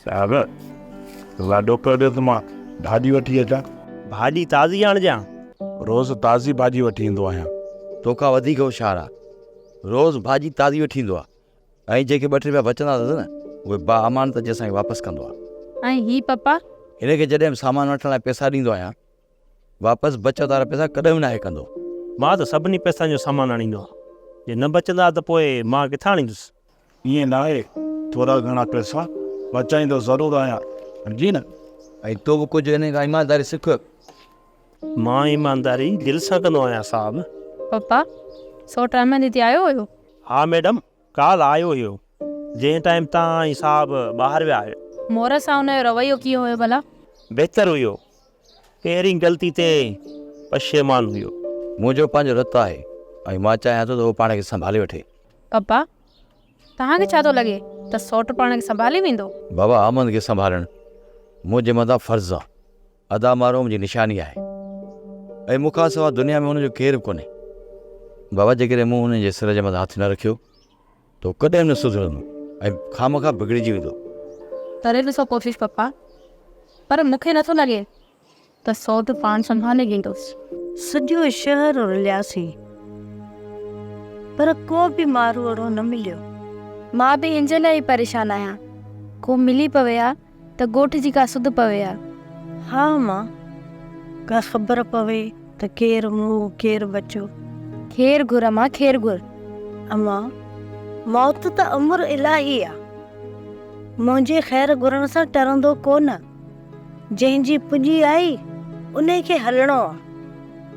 صاحب لاڏو پيو ڏي ته مان ڀاڄي وٺي اچان. ڀاڄي تازي آڻجان. روز تازي ڀاڄي وٺي ايندو آهيان. توکان وڌيڪ هوشيار آ. روز ڀاڄي تازي وٺي ايندو آ ۽ جيڪي ٻه ٽي روپيا بچندا اٿس نه اهي با امان ته جي اسان کي واپس ڪندو آ. ۽ هي پپا؟ هن کي جڏهن به سامان وٺڻ لاء پئسا ڏيندو آهيان واپس بچت وارا پئسا ڪڏهن به ناهي ڪندو. مان ته سڀني پئسن جو سامان آڻيندو آ. جي نه بچندا ته پوء مان ڪٿان آڻيندس. ائين ناهي، ٿورا گهڻا پئسا بچائيندو ضرور آهيان، سمجهين نه؟ ۽ تو به ڪجهه انهيء کان ايمانداري سک. مان ايمانداري دل سان ڪندو آهيان، صاحب. پپا، سوٽ احمد هتي آيو هيو؟ ها ميڊم، ڪالهه آيو هيو، جنهن ٽائيم تان ۽ صاحب ٻاهر ويا هيا. مورس سان ان جو رويو ڪيئن هيو ڀلا؟ بهتر هيو، پهرين غلطي تي پشيمان هيو. منهنجو پنهنجو رت آهي ۽ مان چاهيان ٿو ته اهو پاڻ کي سنڀالي وٺي. بابا، توهان کي ڇا ٿو لڳي ته سئوٽ پاڻ کي سنڀالي ويندو؟ بابا، احمد کي سنڀالڻ منهنجي مٿان فرض آهي. ادا مارو منهنجي نشاني آهي ۽ مون کان سواء دنيا ۾ ان جو ڪير به ڪونهي. بابا، جيڪڏهن مون هن جي سر جي مٿان هٿ نه رکيو تون ڪڏهن نه سڌرندو ۽ خامخواه بگڙجي ويندو. ڪري ڏسو ڪوشش پپا پر مون کي نٿو لڳي ته سوڍ پاڻ سنڀالي ويندو. سڄو شهر رلياسين پر ڪو به ماروئڙو نه مليو. مان به ان جي لاء ئي پريشان آهيان ڪو ملي پوي ها ته ڳوٺ جي ڪا سڌ پوي ها؟ ها امان! ڪا خبر پوي ته ڪير مئو ڪير ٻچو؟ خير گهر امان خير گهر. امان! موت ته امر الاهي آ. منهنجي خير گهرڻ سان ٽرندو ڪو نه. جنهن جي پڄي آئي انهي کي هلڻو آ.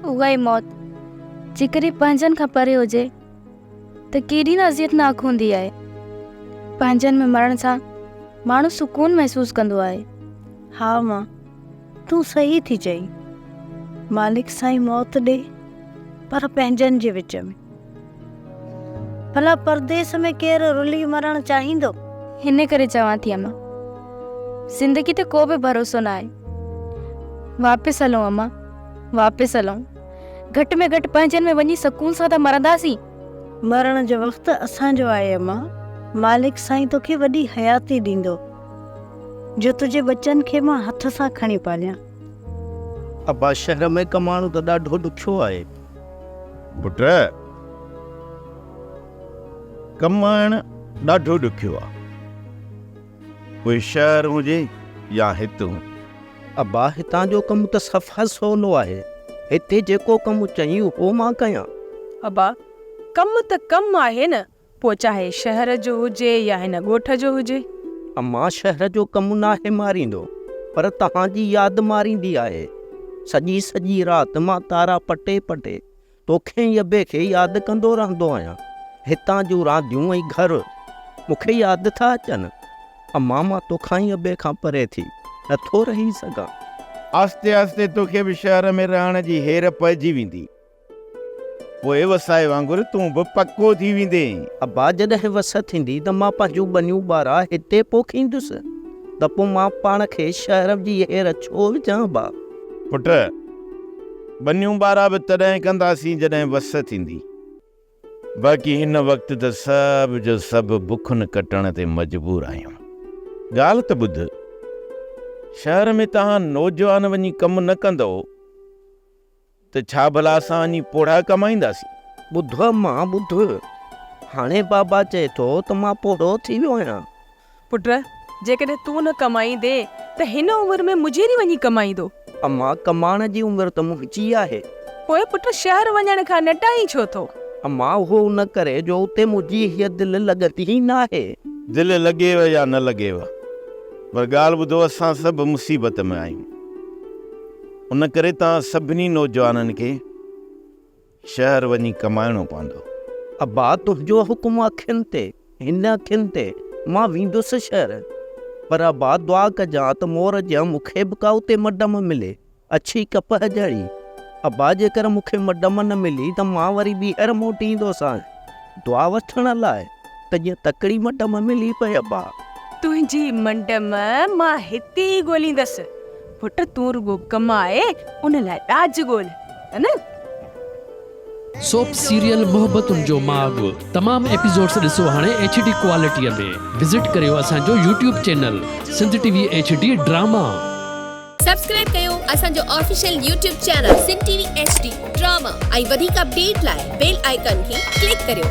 اها ئي موت جيڪڏهن پنهنجن کان پري هجي. ته ڪيڏي نه اذيتناڪ هوندي آهي. پنهنجن ۾ مرڻ سان ماڻهو سڪون محسوس ڪندو آهي. ها ماء تون صحيح ٿي چئين. مالڪ سائين موت ڏي پر پنهنجن جي وچ ۾. ڀلا پرديس ۾ ڪير رلي مرڻ چاهيندو؟ هن ڪري چوان ٿي امان زندگي تي ڪو به ڀروسو ناهي. واپس هلون امان واپس هلون. گهٽ ۾ گهٽ پنهنجن ۾ وڃي سڪون سان ته مرنداسين. مرڻ جو وقت اسان جو آهي اما. مالڪ سائين توکي وڏي حياتي ڏيندو جو تنهنجي ٻچن کي مان هٿ سان کڻي پاليان. ابا شهر ۾ ڪمائڻو ته ڏاڍو ڏکيو آهي. پٽ ڪمائڻ ڏاڍو ڏکيو آهي. پوء شهر هجي يا هت هون. ابا هتان جو ڪم ته صفا سولو آهي. هتي جيڪو ڪم چئين اهو مان ڪيان. ابا ڪم ته ڪم آهي نه پوء چاهي شهر جو هجي يا هن ڳوٺ جو هجي. اما شهر جو ڪم ناهي ماريندو پر توهان جي ياد ماريندي آهي. سڄي سڄي رات مان تارا پٽي پٽي توکي ۽ ابي کي ياد ڪندو رهندو آهيان. هتان جون رانديون ۽ گهر مون کي ياد ٿا اچن. اما مان توکان ۽ ابي کان پري ٿي نه ٿو رهي سگهان. آهستي آهستي توکي به شهر ۾ رهڻ جي هير پئجي ويندي. پوء وسائي وانگر تون به پڪو ٿي ويندين. ابا جڏهن وس ٿيندي ته مان پنهنجون ٻنيون ٻارا هتي پوکيندس ته پوء مان پاڻ کي شهر جي هير ڇو وجهان ابا. پٽ! ٻنيون ٻارا به تڏهن ڪنداسين جڏهن وس ٿيندي. باقي هن وقت ته سڀ جو سڀ بکن ڪٽڻ تي مجبور آهيون. ڳالهه ته ٻڌ. شهر ۾ توهان نوجوان وڃي ڪم نه ڪندؤ ته ڇا ڀلا اسان وڃي پوڙها ڪمائينداسين؟ ٻڌ امان ٻڌ. هاڻي بابا چئي ٿو ته مان پوڙهو ٿي ويو آهيان. پٽ! جيڪڏهن تون نه ڪمائيندين ته هن عمر ۾ مجيري وڃي ڪمائيندو. اما! ڪمائڻ جي عمر ته منهنجي آهي. پوء پٽ شهر وڃڻ کان نٽائين ڇو ٿو؟ اما! اهو ان ڪري جو اتي منهنجي هيء دل لڳندي ئي ناهي. دل لڳيو يا نه لڳيو پر ڳالهه ٻڌو اسان سڀ مصيبت ۾ آهيون ان ڪري توهان سڀني نوجوانن کي. شهر وڃي ڪمائڻو پوندو. ابا تنهنجو حڪم اکين تي هن اکين تي مان ويندس شهر پر ابا دعا ڪجان ته مور جيان مون کي به ڪا اتي مڊم ملي اڇي ڪپهه جهڙي ابا جيڪر مون کي مڊم نه ملي ته مان وري ٻيهر موٽي ايندوسانء دعا وٺڻ لاء. ته جيئن تڪڙي مٽ مان ملي پئي ابا. تنهنجي منڊ مان مان هتي ئي ڳوليندس. پٽ تون رڳو ڪماء ان لاء ڏاج ڳول ته نه. سوپ سيريل محبتن جو ماڳ تمام ايپيسوڊس ڏسو هاڻي ايڇ ڊي ڪوالٽيء ۾ وزٽ ڪريو اسان جو YouTube channel Sindh T V H D drama. Subscribe ڪيو اسان جو official YouTube channel Sindh T V H D drama ۽ وڌيڪ اپڊيٽ لاء بيل آئيڪان کي ڪلڪ ڪريو.